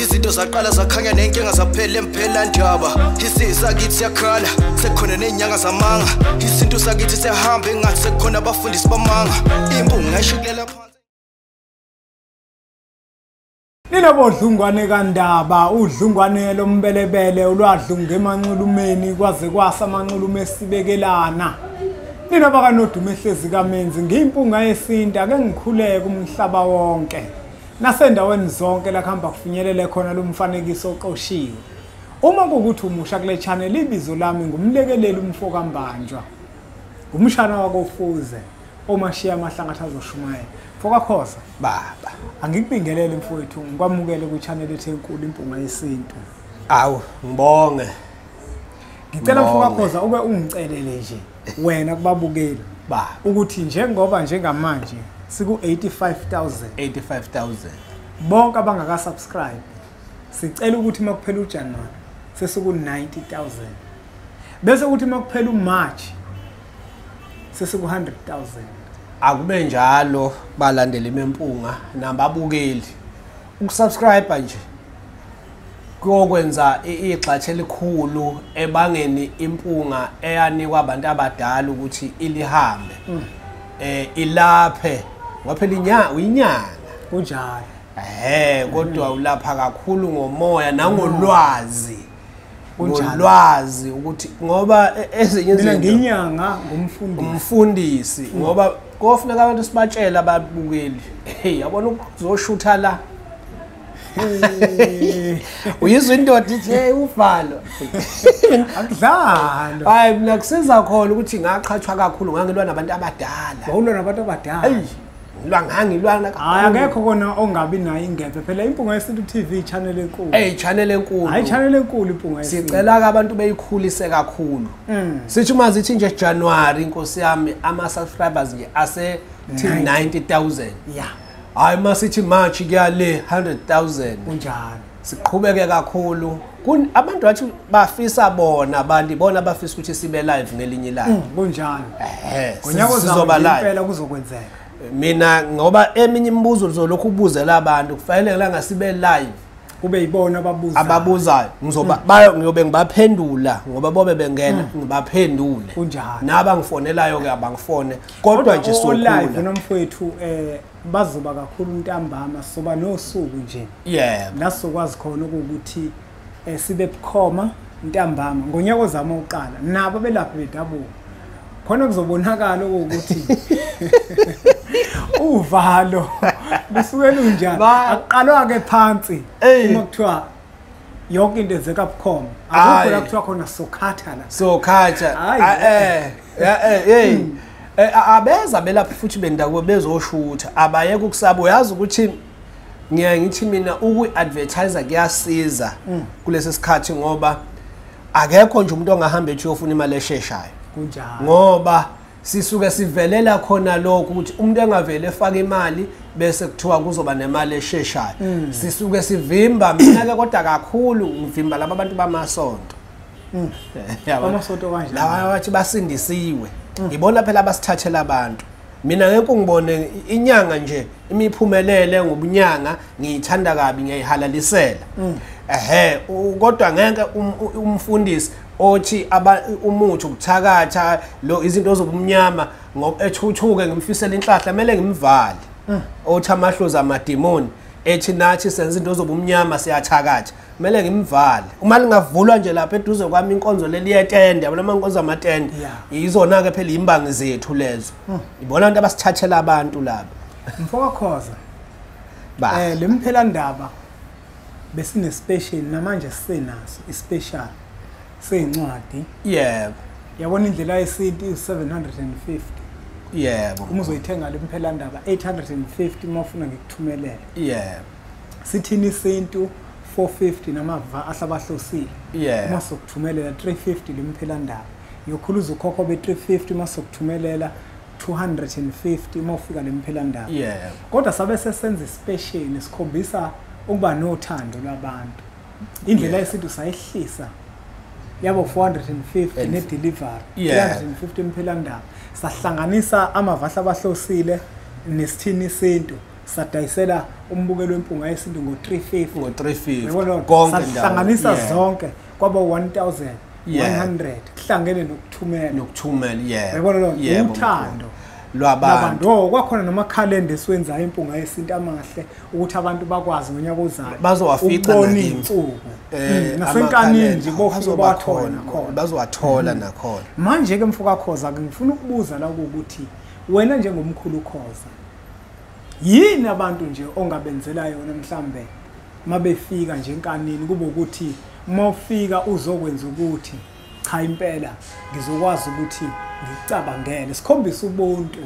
izinto zaqala zakhanya nenkinga zaphela emphela ndaba isizwe sakithi siyakhala sekhona ney'nyanga zamanga isintu sakithi siyahamba engathi sekhona abafundisi bamanga impunga ngayishikulela ninobodlungwane kandaba udlungwane lombelebele ulwadlunga emanxulumeni kwaze kwasa amanxulume esibekelana nina bakanodumo ehlezi kamenzi ngiyimpunga yesintu ake ngikhuleke umhlaba wonke nasendaweni zonke la kuhamba kufinyelele khona lo mfanekiso oqoshiwe uma kukuthi umusha kule channel ibizo lami ngumlekeleli umfo kambanjwa ngumshana wakofuze omashiya amahlangatha azoshumayela fokakhosa baba angikubingelele mfowethu ngikwamukele kwi-channel ethe enkulu impunga yesintu awu ngibonge ngicela mfokakhosa ube ungicelele nje wena kubabukeli ba ukuthi njengoba njengamanje siku 85000 85000 bonke abangaka subscribe sicela ukuthi makuphela uJanuary sesiku 90000 bese ukuthi makuphela uMarch sesiku 100000 akube njalo balandela imempunga nababukeli ukusubscribe nje kuyokwenza igxatshe elikhulu ebangeni impunga eyanikwa abantu abadala ukuthi ilihambe mm. eh ilaphe ngoba phela inyanga uyinyanga kunjalo ehe kodwa ulapha kakhulu ngomoya nangolwazi ulwazi ukuthi ngoba e, ezinye izinto nginyanga ngumfundisi umfundisi mm. ngoba kofuneka abantu sibatshela ababukeli hey yabona ukuzoshutha la uyizwa indoda ithi hey uvalo akudlalo hayi mina kusiza khona ukuthi ngaqhathwa kakhulu ngangilwa nabantu abadala wawulwa nabantu abadala eyi ngilwa ngangilwana hayi akekho kona ongabi nayo ingebe phela impunga yesintu TV channel enkulu hey channel enkulu hayi channel enkulu impunga yesintu sicela ke abantu beyikhulise kakhulu mm. sithi uma zithi nje January inkosi yami ama subscribers nje ase 90000 yeah hayi uma sithi march kuyale 100000 kunjalo siqhubeke kakhulu abantu bathi bafisa bona abantu bona bafisa ukuthi sibe live ngelinye ilanga mm, kunjalo ehe ngonyaka ozayo impela kuzokwenzeka mina ngoba eminye imibuzo lizolokhu ubuzela abantu kufanele ngelanga sibe live kube yibona ababuza ababuzayo ngizoba mm. bayo ngiyobe ngibaphendula ngoba bobe bengena mm. ngibaphendule kunjalo naba ngifonelayo ke abangifone kodwa nje sokula nomfowethu eh bazoba kakhulu ntambama soba nosuku nje yebo la sokwazi khona ukuthi eh, sibe bukhoma ntambama ngonyaka ozama uqala nabo belaphi bedabuka khona kuzobonakala ukuthi uvalo lusuke lunjani aqalwa ke phansi uma kuthiwa yonke into enzeka bukhoma akukho la kuthiwa khona sokhatha la sokhatha eh Yeah, hey, hey. Mm. Eh, abeza belapha futhi bendakubo bezoshutha abayeke ukusaba uyazi ukuthi ngiyaye ngithi mina ukuyi-advertise kuyasiza mm. kulesi sikhathi ngoba akekho nje umuntu ongahamba ethi uyofuna imali esheshayo ngoba sisuke sivelela khona lokho ukuthi umuntu engavele efake imali bese kuthiwa kuzoba nemali esheshayo mm. sisuke sivimba mina-ke kodwa kakhulu ngivimba laba bantu bamasonto Mm. Amasonto kanje. Lawa wathi basindisiwe. Mm. Ngibona phela abasithathela abantu. Mina ngeke ngibone inyanga nje imiphumelele ngobunyanga ngiyithanda kabi ngiyayihalalisela. Mm. Ehhe kodwa ngeke um, umfundisi othi umuthi ukuthakatha lo izinto zobumnyama ngoba ethuthuke ngimfisela inhlahla kumele ngimvale. Othi amahlozi amademoni ethi nathi senza into zobumnyama siyathakatha kumele ngimvale uma lingavulwa nje lapha eduze kwami inkonzo leliyetende yabona uma inkonzo amatende yizona-ke phela yimbangi zethu lezo hmm. ibona abantu abasithathela abantu laba mfowakhoza um eh, le mphelandaba besinespecial namanje sisenaso ispecial seyincwadi yebo yabona indlela yesintu iwu-750 yebo uma uzoyithenga le mphelandaba 850 uma ufuna ngikuthumelele yebo sithini isintu 450 namava ahlabahlosile yeah. uma sokuthumelela 350 limphelandaba yokhuluza ukhokho be-350 uma sokuthumelela 250 uma ufika lemphelandaba yeah. kodwa sabe sesenza isipesheli sikhombisa ukuba nothando lwabantu indlela yeah. yesintu sayehlisa yabo 450 ne delivery yeah. 350 imphelandaba sahlanganisa amavahla abahlosile nesithini isintu sadayisela umbukelo wempunga yesintu ngo-350 konke sahlanganisa zonke kwaba 1100 kuhlangene nokuthumela nokuthumela yeah yabona lo uthando lwabantu oh, kwakhona nomakhalenda esiwenzayo impunga yesintu amahle ukuthi abantu bakwazi ngonyaka ozayo bazowafica insuku eh, hmm, nasenkanini nje bobakhona khona bazowathola hmm. nakhona manje ke mfoka khoza ngifuna ukubuza la ukuthi wena njengomkhulu khoza yini abantu nje ongabenzela yona mhlambe mabefika nje enkanini kube ukuthi mawufika uzokwenza ukuthi cha impela ngizokwazi ukuthi ngicabangele sikhombisa ubuntu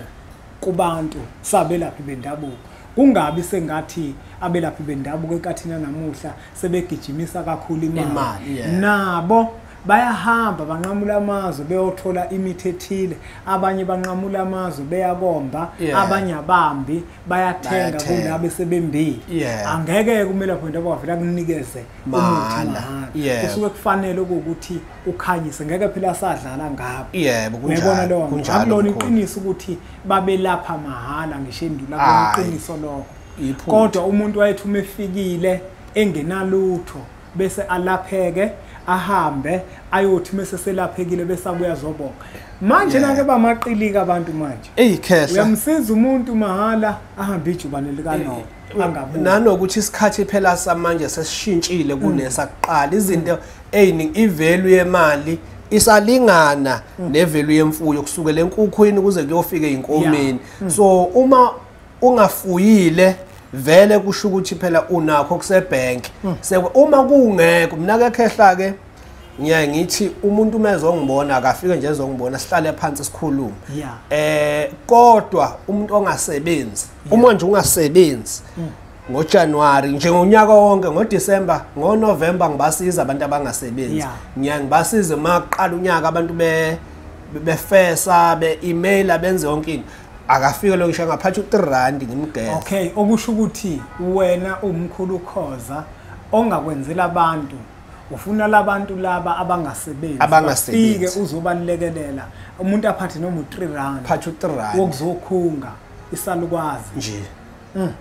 kubantu sabelaphi bendabuko kungabi sengathi abelaphi bendabuko ekathina namuhla sebegijimisa kakhulu imali nabo bayahamba banqamula amazwe beyothola imithi ethile abanye banqamula amazwe beyakomba yeah. abanye abambi bayathenga kula bese bembili yeah. angeke kumele lapho into abavela kunikeze umahana yeah. kusuke kufanele ukuthi ukhanyise ngeke phela sadlala ngabo yebo yeah, kunjalo lo kunjalo akulona iqiniso ukuthi babelapha mahhala ngisho endula kuqiniso lokho kodwa umuntu wayethu umefikile engenalutho bese alapheke ahambe ayothi mese selaphekile bese abuya zobonga manje yeah. nake bamaqilika abantu manje eyi khehla uyamsiza umuntu mahhala ahambe ijubane likanoba angabuyi nanokuthi isikhathi phela samanje sesishintshile mm. kunesakuqala izinto eyiningi ivalue yemali isalingana mm. nevalue yemfuyo kusukela enkukhwini kuze kuyofika inkomeni mm. so uma ungafuyile vele kusho ukuthi phela unakho kusebank hmm. sekwe uma kungekho mina ke khehla ke ngiyaye ngithi umuntu uma ezongibona akafike nje ezongibona sihlale phansi sikhulume eh kodwa umuntu ongasebenzi uma nje ungasebenzi hmm. ngoJanuary njengonyaka wonke ngoDecember ngoNovember ngibasiza abantu abangasebenzi ngiya ngibasize maqala unyaka abantu be befesa be-emaila benze yonke into akafike lo ngisho angaphatha u-3 rand ngimgeza okay okusho ukuthi wena umkhulu khoza ongakwenzela abantu ufuna labantu laba abangasebenzi abangafike uzobalekelela umuntu aphathe noma u3 rand phathe u3 rand wokuzokhunga isalukwazi nje mm.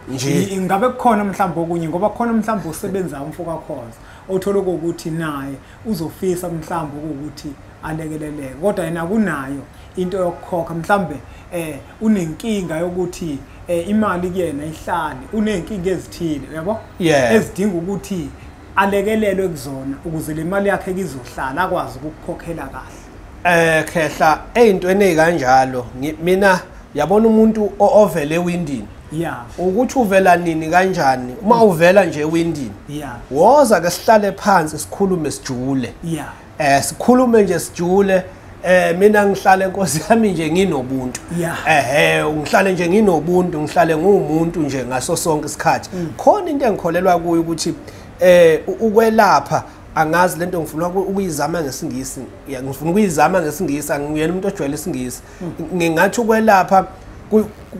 nje ingabe kukhona mhlawumbe okunye ngoba khona mhlawumbe osebenza umfoka khona othola ukuthi naye uzofisa mhlawumbe ukuthi alekeleleke kodwa yena kunayo into yokukhokha mhlambe eh unenkinga yokuthi eh, imali kuyena ihlale unenkinga ezithile uyabo yeah. ezidinga ukuthi alekelelwe kuzona ukuze le mali yakhe kizohlala akwazi ukukhokhela kahle eh khehla ezintweni ezikanjalo mina yabona umuntu ovele ewindini yeah ukuthi uvela nini kanjani uma uvela nje ewindini yeah woza ke sihlale phansi sikhulume sijule yeah eh sikhulume nje sijule eh mina ngihlale nkosi yami nje nginobuntu ehe ngihlale nje nginobuntu ngihlale ngumuntu nje ngaso sonke isikhathi mm. khona into engikholelwa kuyo ukuthi eh ukwelapha angazi lento ngifuna ukuyizama ngesingisi ngifuna ukuyizama ngesingisi angiyena umuntu ojwayele isingisi mm. ngingathi ukwelapha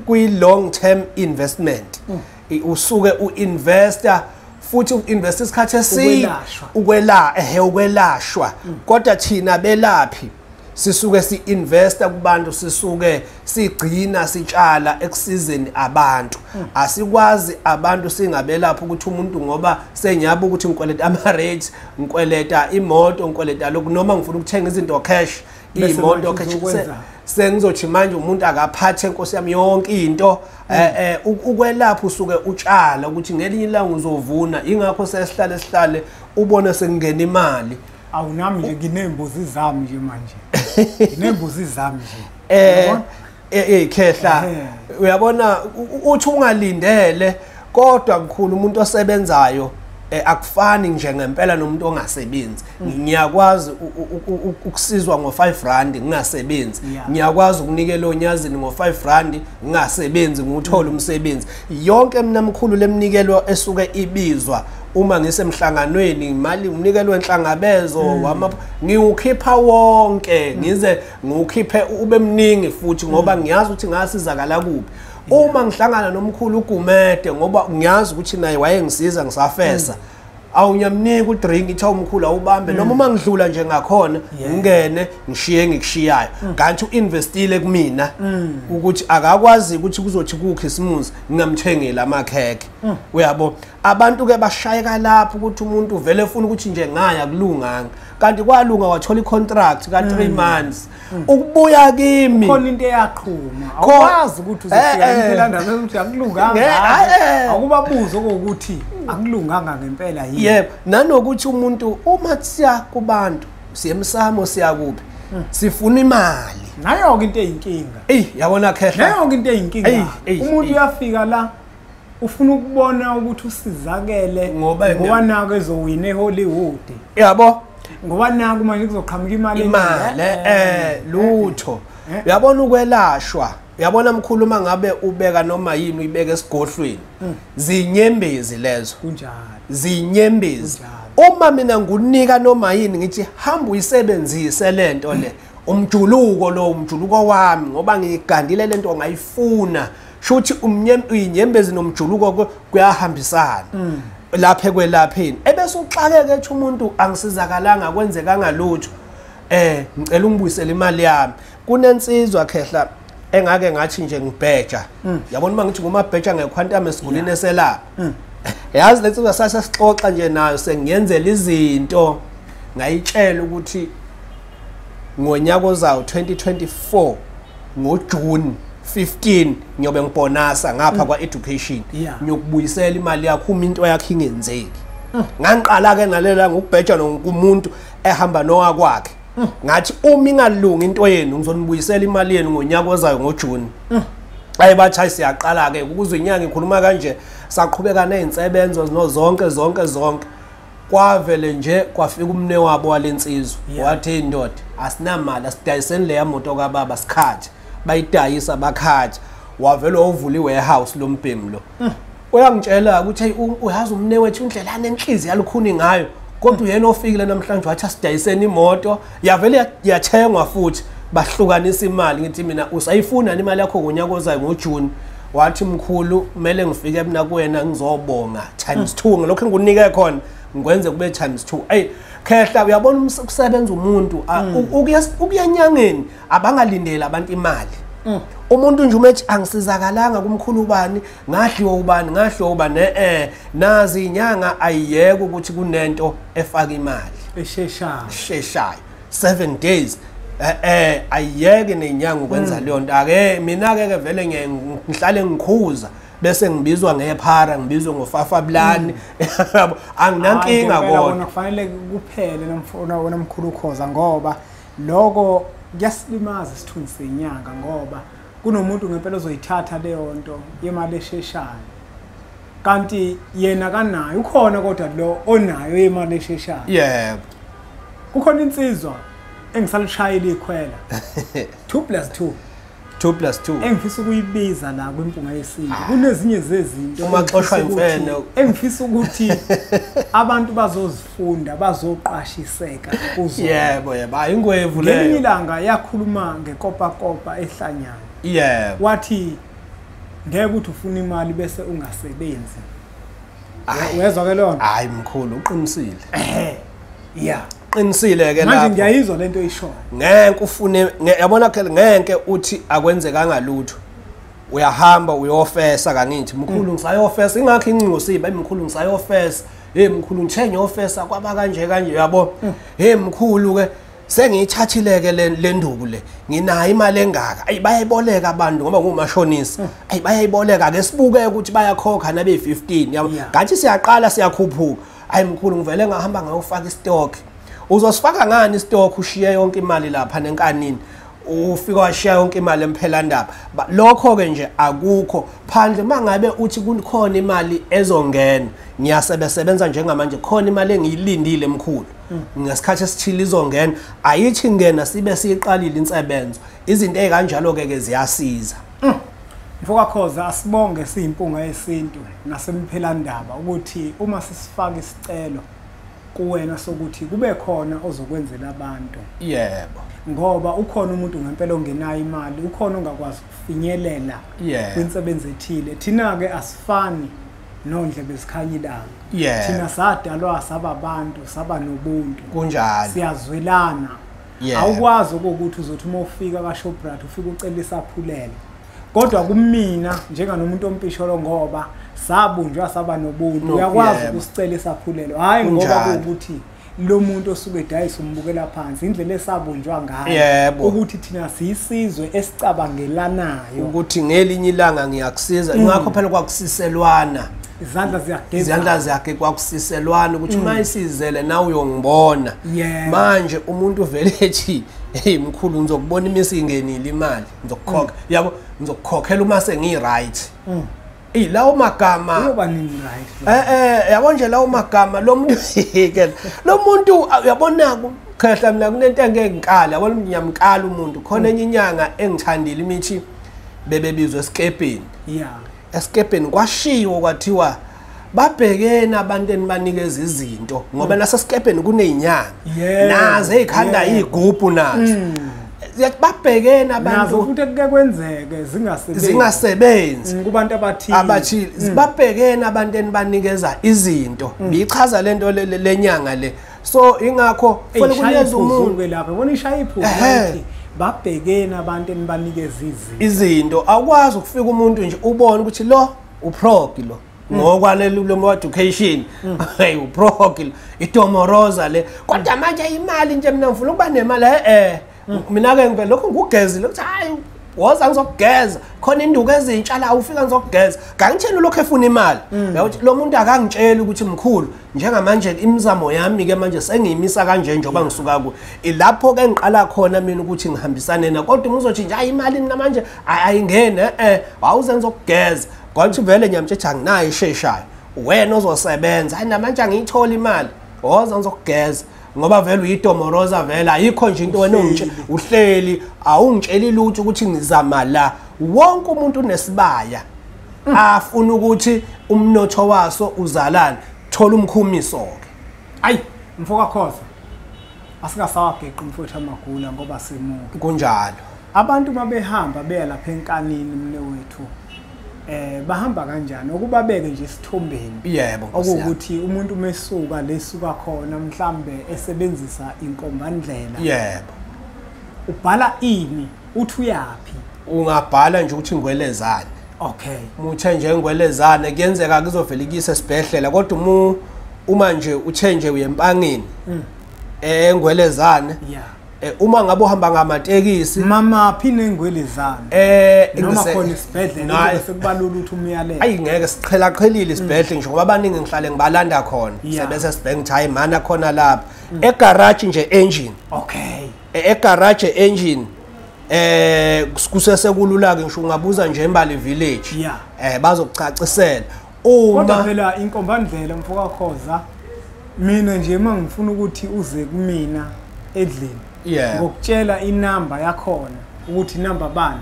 kuyi long term investment mm. usuke uinvesta futhi uinvesta isikhathi eside ukwela ehe ukwelashwa mm. kodwa thina belaphi sisuke siinvesta kubantu sisuke sigcina sitshala ekusizeni abantu mm. asikwazi abantu singabelapha ukuthi umuntu ngoba senyaba ukuthi ngikweleta ama rates ngikweleta imoto ngikweleta lokhu noma ngifuna ukuthenga izinto cash iyimoto sengizothi manje umuntu akaphathe nkosi yami yonke into eh, eh, ukwelapha usuke utshala ukuthi ngelinye ilanga uzovuna ingakho sesihlale sihlale ubona sekungena imali awunami nje nginembuzi zami nje manje nginembuzi zami nje eh eh khehla uyabona uthi ungalindele kodwa mkhulu umuntu osebenzayo eh, akufani nje ngempela nomuntu ongasebenzi mm. ngiyakwazi ukusizwa ngo5 rand ngingasebenzi ngiyakwazi ukunikela onyazini ngo5 rand ngingasebenzi nguthola mm. umsebenzi yonke mina mkhulu lemnikelo esuke ibizwa uma ngisemhlanganweni imali umnikelo wenhlangabezo mm. wama ngiwukhipha wonke ngize ngiwukhiphe ube mningi futhi ngoba mm. ngiyazi ukuthi ngasizakala kuphi uma ngihlangana nomkhulu ugumede ngoba ngiyazi ukuthi naye wayengisiza ngisafesa mm. awunyamniki udrink itha umkhulu awubambe mm. noma uma ngidlula nje ngakhona ngingene ngishiye ngikushiyayo mm. kanti uinvestile kumina mm. ukuthi akakwazi ukuthi kuzothi kukhisimuzi ngingamthengeli amakhekhe uyabo abantu ke bashayeka lapho ukuthi umuntu uvele efuna ukuthi nje ngaya kulunganga kanti kwalunga wathola icontract ka 3 mm. months mm. ukubuya kimi khona into eyaqhuma awukwazi ukuthi eh, uzofika eh. impilanda ukuthi akulunganga eh, akubabuzo ukuthi akulunganga ngempela yini yebo nanokuthi umuntu uma siya kubantu siyemsamo siyakuphi mm. sifuna imali nayo ke into eyinkinga ey yabona khehla nayo ke into eyinkinga umuntu uyafika la ufuna ukubona ukuthi usizakele ngoba nako ezowina ehollywood yabo ngoba naku manje kuzoqhamuka imali imali eh, eh lutho eh. uyabona ukwelashwa uyabona mkhulu uma ngabe ubeka noma yini uyibeka esigodlweni hmm. zinyembezi lezo kunjalo zinyembezi uma mina ngunika noma yini ngithi hamba uyisebenzise lento le umjuluko lo umjuluko wami ngoba ngiyigandile lento ngayifuna shuthi umnyem uyinyembezi nomjuluko kuyahambisana mm. laphe kwelapheni ebese uxakeke ethi umuntu angisizakalanga kwenzeka ngalutho eh ngicela ungibuyisele imali yami kunensizwa khehla engake ngathi nje ngibheja mm. yabona uma ngithi ngumabheja ngekhwantame sigulini eselapha mm. yazi le nsizwa sase sixoxa nje nayo sengiyenzela izinto ngayitshela ukuthi ngonyaka ozawo 2024 ngoJune 15 ngiyobe ngibonasa ngapha mm. kwa education ngiyokubuyisela imali yakho uma into yakhe ingenzeki mm. ngangiqala ke nalela ngokubheja nomuntu ehamba nowakwakhe mm. ngathi uma ingalungi into yenu ngizonibuyisela imali yenu ngonyaka ozayo ngoJune ayi bathayi siyaqala ke ukuze inyanga ikhuluma kanje saqhubeka nezinsebenzo zinozonke zonke zonke kwavele nje kwafika umne wabo walensizwa wathi hey ndoda asinamali asidayiseni leya moto kababa sikhathi bayidayisa bakhathi wavele wavula iwarehouse lombhemu lo hmm. uyangitshela ukuthi hey uyazi umne wethu indlela anenhliziyo alukhuni ngayo kodwa uyena ofikile namhlanje wathi asidayiseni imoto yavele yathengwa futhi bahlukanisa imali ngithi mina usayifuna yini imali yakho ngonyaka ozayo ngojuni wathi mkhulu kumele ngifike mina kuwena ngizobonga times two ngelokhu engikunike khona ngikwenze kube times two eyi khehla uyabona ukusebenza umuntu mm. ukuyanyangeni abangalindeli abantu imali mm. umuntu nje uma ethi angisizakalanga kumkhulu ubani ngahliwa ubani ngahliwa ubani eh nazi inyanga ayiyeke ukuthi kunento efaka imali esheshayo esheshayo 7 days eh eh ayiyeke nenyanga ukwenza hmm. leyo nto ake mina ke ke vele ngihlale ngikhuza bese ngibizwa ngephara ngibizwe ngofafa bulani hmm. anginankinga kodwa kufanele kuphele nomfona wona mkhulu ukhoza ngoba lokho kuyasilimaza isithunzi senyanga ngoba kunomuntu ngempela ozoyithatha leyo nto yemali esheshayo kanti yena kanayo ukhona kodwa lo onayo yemali esheshayo yebo kukhona insizwa engisalushayela ikhwela 2 plus 2 2 plus 2 engifisa ukuyibiza la kwimpunga yesintu ah. kunezinye zezinto uma xoshwa imfene engifisa ukuthi abantu bazozi funda bazoqashiseka kuzo yebo yebo hayi ingwevu leyo ngelinye ilanga yakhuluma ngekopakopa ehlanyana yebo wathi ngeke ukuthi ufuna imali bese ungasebenzi uyezwa ke lona hayi mkhulu uqinisile ehe yeah qinisile ke lapho manje ngiyayizwa lento ishoyo ngeke ufune yabona ke ngeke uthi akwenzekanga lutho uyahamba uyofesa kangithi mkhulu mm. ngisayofesa ingakho incingo siba imkhulu ngisayofesa hey mkhulu ngithe ngiyofesa kwaba kanje kanje yabo mm. hey mkhulu ke sengiyithathileke le nduku le nginayo imali engaka ayi bayayiboleka abantu ngoba ngumashonisa hmm. ayi bayayiboleka ke sibuke ukuthi bayakhokha nabe 15 yabo ngathi siyaqala siyakhuphuka ayi mkhulu ngivele ngahamba ngayofaka istock uzosifaka ngani istock ushiye yonke imali lapha nenkanini ufika washiya yonke imali emphelandaba lokho-ke nje akukho phandle uma ngabe uthi kukhona imali ezongena ngiyasebesebenza njengamanje khona imali engiyilindile mkhulu mm. ngesikhathi esithile izongena ayithi ngena sibe siyiqalile insebenzo izinto ey'kanjalo-ke ke ziyasiza mm. mfokakhoza asibonge siyimpunga yesintu nasemiphelandaba ukuthi uma sisifaka isicelo kuwena sokuthi kube khona ozokwenzela abantu yebo ngoba ukhona umuntu ngempela ongenayo imali ukhona ongakwazi ukufinyelela kwinsebenzi ethile thina-ke asifani nondle bezikhanya ilanga yeah. thina sadalwa saba abantu saba nobuntu kunjalo siyazwelana yeah. awukwazi okokuthi uzothi uma ufika kashoprite ufike ucela isaphulelo kodwa kumina njenganomuntu ompisholo ngoba sabunjwa saba nobuntu uyakwazi ukusicela isaphulelo hhayi ngoba kuwukuthi lo muntu osuke edayisa umbukela phansi indlela esabunjwa ngayo ukuthi thina siyisizwe esicabangelanayo ukuthi ngelinye ilanga ngiyakusiza mm. ngakho phela kwakusiselwana izandla ziyageza izandla zakhe kwakusiselwana ukuthi uma mm. isizele nawe uyongibona manje umuntu vele ethi hey mkhulu ngizokubona imisi ingenile imali ngizokukhokha mm. yabo ngizokukhokhela uma sengi right mm. Ey lawo magama uyoba nini right eh eh yabo nje lawo magama lo muntu ke lo muntu uyabona khehla mina kunento engeke ngikala yabo ngiyamkala umuntu khona mm. enye inyanga engithandile imithi bebebizwe esikepini yeah esikebheni kwashiwo kwathiwa babhekene abantu enibanikeza izinto ngoba mm. nasesikebheni kunezinyanga nazo ezikhanda izigubhu nazo mm. babhekene abantu ukuthi kuke kwenzeke zingasebenzi zingasebenzi mm, kubantu abathile abathile babhekene abantu enibanikeza izinto bichaza lento lenyanga le so ingakho funa kunyeza umuntu ke lapha bona ishaya iphuzu ukuthi babhekeni abantu enibanikeza izinto izinto awukwazi ukufika umuntu nje ubone ukuthi lo uprogi lo mm. ngokwalelo loma education mm. hey uprogi itomoroza le kodwa manje imali nje mina ngifuna ukuba nemali eh, eh. mm. mina ke ngivele lokho ngugezile ukuthi hayi woza ngizokugeza khona induku ezintsha la ufika ngizokugeza kangitshela lokho efuna imali mm. yakuthi lo muntu akangitsheli ukuthi mkhulu njengamanje imizamo yami ke manje sengiyimisa kanje njengoba ngisuka ku ilapho ke ngiqala khona mina ukuthi ngihambisane na kodwa umuzothi nje ayi imali namanje ayingene eh, eh wawuze ngizokugeza kwathi vele nyamtshetha nginayo isheshayo wena ozosebenza hayi namanje angiyithola imali woza ngizokugeza ngoba vele uyitomoroza vele ayikho nje into wena ongitshela uhleli awungitsheli lutho ukuthi ngizama la wonke umuntu unesibaya mm. afuna ukuthi umnotho waso uzalane thola umkhumiso ke ayi mfoka khoza asingasawageqi umfowethu amagula ngoba simuke kunjalo Abantu mabehamba beya lapha enkanini mne wethu eh bahamba kanjani okubabeke nje isithombeni yebo okuwukuthi umuntu umesuka lesuka khona mhlambe esebenzisa inkombandlela yebo ubhala ini uthi uyaphi ungabhala nje ukuthi ngwelezane okay muthe nje ngwelezane kuyenzeka kuzovela ikise sibhedlela kodwa uma uma nje uthe nje uyempangini mm. engwelezane eh, yeah Eh, uma ngabe uhamba ngamatekisi mama phine ngwele zami eh noma khona isibhedlela sekubalula ukuthi umyalele ayi ngeke siqhela qhelile mm. isibhedlela ngisho ngoba abaningi ngihlale ngibalanda khona sebese sibheke ukuthi hayi mana khona lapha mm. egarage nje engine okay e, egarage engine eh kusese kulula ke ngisho ungabuza nje embali village eh bazokucacisela kodwa phela inkombandlela mfokakhoza mina nje uma ngifuna ukuthi uze kumina edlini ngokutshela inamba yakhona ukuthi inamba bani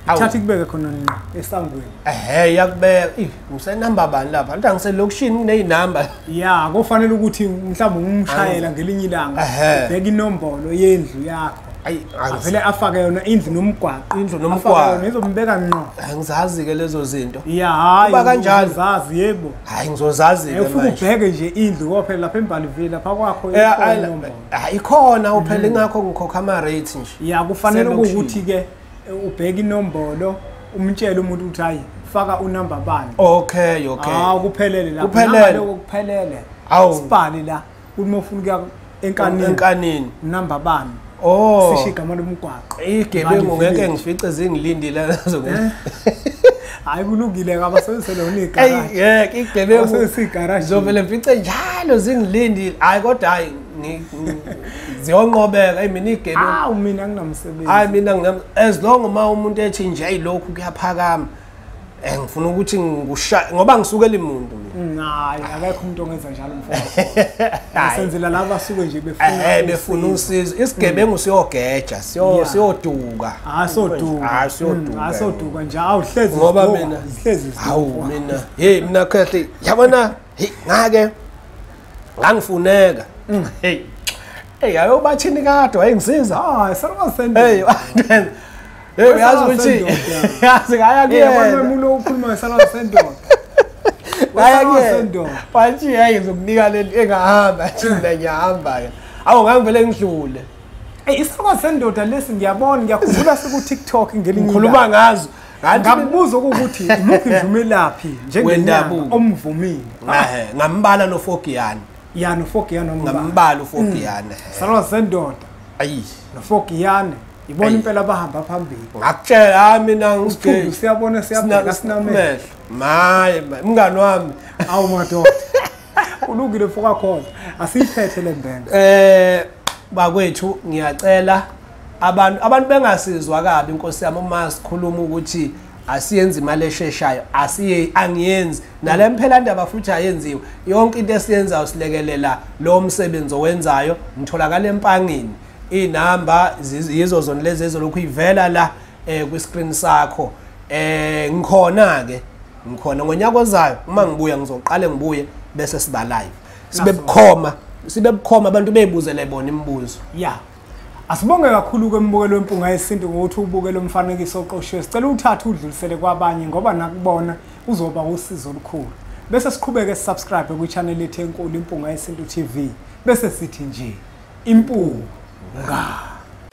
thatha ikubeke khona nqa esangweni ehe yakubeka ngisenamba bani lapha anti angiselokishini kuney'namba ya kofanele ukuthi mhlawumbe ngumshayela ngelinye ilanga ubheka inombolo yendlu yakho ayi avele afake yona indlu nomgwaqo indlu nomgwaqo ngizombeka ngqo angizazi ke lezo zinto ya hayi kuba kanjalo zazi yebo hayi ngizozazi ke manje ubheke nje indlu kophela lapha embali vile lapha kwakho hayi khona uphela mm. ingakho ngikhokha ama rates nje ya kufanele ukuthi ke ubheke inombolo umtshele umuntu ukuthi hayi faka unumber bani okay okay ah kuphelele lapha kuphelele kuphelele awu sibani la ukuthi uma ufuna ukuya enkanini enkanini namba bani oh sisho igama lomgwaqo igebengu ngeke ngifice zingilindile lezo eh? hayi kulungile ngabasebenzise lona igaraji yeke igebengu basebenzise igaraji zovele ngifice njalo zingilindile hayi kodwa hayi ziyonqobeka imini igebengu awu mina nginamsebenzi hayi mina ngina as long uma umuntu ethi nje ayilokhu kuyaphakama Eh ngifuna ukuthi ngikusha ngoba ngisuke limuntu mina. Hayi akekho umuntu ongenza njalo mfowethu. Asenzela laba suke nje befuna eh befuna usizo. Isigebengu mm. siyogeja, siyo siyoduka. Ah soduka. Ah siyoduka. Ah soduka nje awuhlezi ngoba mina. Sihlezi. Hawu mina. Hey mina khehle. Yabona? Hey ngake ngangifuneka mm. hey hey ayobathini kade wayengisiza ah sarwa send hey hey uyazi ukuthi yazi ngaya kuyena abantu bemulo ukhuluma ngesarwa send ngaya kuyena bathi hey ngizokunika leli engahamba athi mina ngiyahamba ke awu ngangivele ngidlule Hey isifoko sendoda lesi ngiyabona ngiyakhumbula siku TikTok ngelinye. Ngikhuluma ngazo. ngambuza ukuthi umuphi nje umelaphi njengenyanga omvumile ngambala nofogiyane ya nofogiyane ngambala ufogiyane mm. salwa sendoda ayi nofogiyane ibona impela bahamba phambili ngakutshela hayi mina ngisiphundu siyabona siyabona sinamehlo maye mngani wami awu madoda ulungile mfoka khona asiyiphethe le mbenge eh bakwethu ngiyacela abantu abantu bengasizwa kabi inkosi yami uma sikhuluma ukuthi asiyenzi imali esheshayo asiye angiyenzi nale mphelandaba futhi ayenziwe yonke into esiyenzayo silekelela lowo msebenzi owenzayo ngitholakala empangini iy'namba yizo zona lezi ezolokhu ivela la um kwi-screen sakho um ngikhona-ke ngikhona ngonyaka ozayo uma ngibuya ngizoqale ngibuye bese siba live sibe bukhoma sibe bukhoma abantu beyibuzele bona imibuzo ya asibonge kakhulu kwembukelo wempunga yesintu ngokuthi ubuke lo mfanekiso oqoshiwe sicela uthathe udlulisele kwabanye ngoba nakubona uzoba usizo olukhulu bese siqhubeke sisubscribe kwi-channel yethu enkulu impunga yesintu tv bese sithi nje impunga